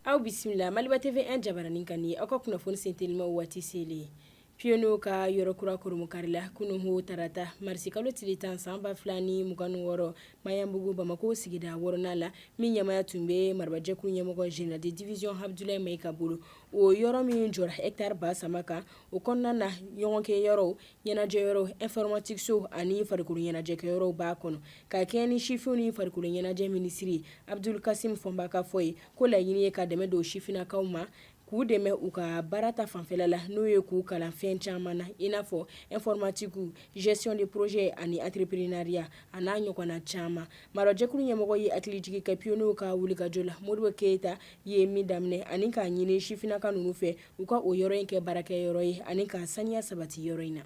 Aw bisimila maliba TV1 jabaranin kan nin aw ka kunnafoni sentelima waati selen pionniers ka yɔrɔkura kurunbonkarila kunun tarata marisi kalo tile tan san ba fila ni mugan ni wɔɔrɔ Maɲanbugu bamakɔ sigida wɔɔrɔnan la min ɲɛmaaya tun bɛ marabajɛkulu ɲɛmɔgɔ général de division Abdoulaye Maiga bolo o yɔrɔ min jɔra hectare ba saba kan o kɔnɔna na ɲɔgɔnkɛ yɔrɔ ɲɛnajɛ yɔrɔ informatique so ani farikolo ɲɛnajɛkɛ yɔrɔ b'a kɔnɔ ka kɛ ni sifinw ni farikolo ɲɛnajɛ minisiri Abdoul Kassim Fomba ka fɔ ye ko laɲini ye ka dɛmɛ don sifinnakaw ma k'u dɛmɛ u ka baara ta fanfɛla la n'o ye k'u kalan fɛn caman na i n'a fɔ informatique gestion de projet ani entrepreneuriat a n'a ɲɔgɔnna caman marajɛkulu ɲɛmɔgɔ ye hakilijigin kɛ pionniers ka wulikajɔ la Modibo Keyita ye min daminɛ ani k'a ɲini sifinnaka ninnu fɛ u ka o yɔrɔ in kɛ baarakɛ yɔrɔ ye ani ka saniya sabati yɔrɔ in na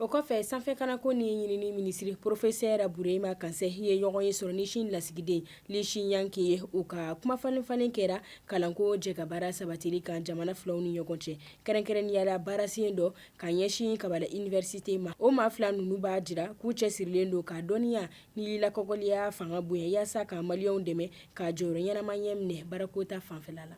o kɔfɛ sanfɛkalanko ni ɲinini minisiri professeur Burema Kansaye ye ɲɔgɔn ye sɔrɔ ni Sini lasigiden Li Xiang ye u ka kumafalenfalen kɛra kalanko jɛkabaara sabatili kan jamana filaw ni ɲɔgɔn cɛ kɛrɛnkɛrɛnnenya la baarasen dɔ ka ɲɛsin kabala université ma o maa fila ninnu b'a jira k'u cɛsirilen don ka dɔnniya Ni lakɔgɔliya fanga bonya yaasa ka maliyɛnw dɛmɛ ka jɔyɔrɔ ɲɛnama ɲɛ minɛ baarako ta fanfɛla la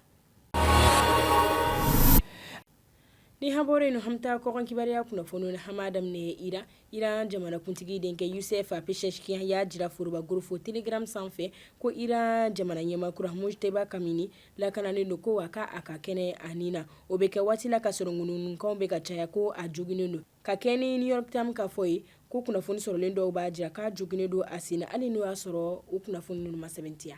ni an bɔra yen an bɛ taa kɔkan kibaruya kunnafoni na an b'a daminɛ Iran Iran jamanakuntigi denkɛ Youssef Pezeshkian y'a jira forobakorofo Telegram sanfɛ ko iran jamana ɲɛma kura Mojtaba Khamenei lakananen don ko a ka a ka kɛnɛ a ni na o bɛ kɛ waati la ka sɔrɔ ŋunuŋunukanw bɛ ka caya ko a joginnen don ka kɛ ni New York Times ka fɔ ye, ko kunnafoni sɔrɔlen dɔw b'a jira k'a joginnen don a sen na, hali n'o y'a sɔrɔ o kunnafoni ninnu ma sɛmɛntiya.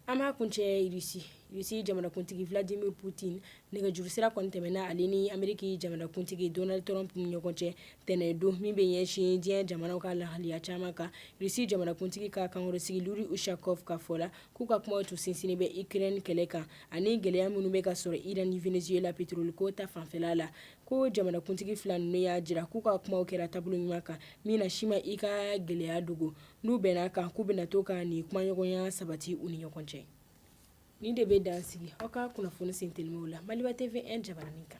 An b'a kuncɛ Russie, Russie jamanakuntigi Vladimir Putin nɛgɛjuru sira kɔni tɛmɛna ale ni Ameriki jamanakuntigi Donald Trump ni ɲɔgɔn cɛ tɛnɛ don, min bɛ ɲɛsin diɲɛ jamanaw ka lahaliya caman kan. Russie jamanakuntigi ka kankɔrɔsigi Yuri Ushakov ka fɔ la, K'u ka kumaw tun sinsinnen bɛ Ukraine kɛlɛ kan ani gɛlɛya minnu bɛ ka sɔrɔ Iran ni Venezuela petiroli ko ta fanfɛla la ko jamanakuntigi fila ninnu y'a jira k'u ka kumaw kɛra taabolo ɲuman kan min na si ma i ka gɛlɛya dogo n'u bɛn'a kan k'u bɛna to ka nin kumaɲɔgɔnya sabati u ni ɲɔgɔn cɛ nin de bɛ dan sigi aw ka kunnafoni sentelimaw la Maliba TV1 jabaranin kan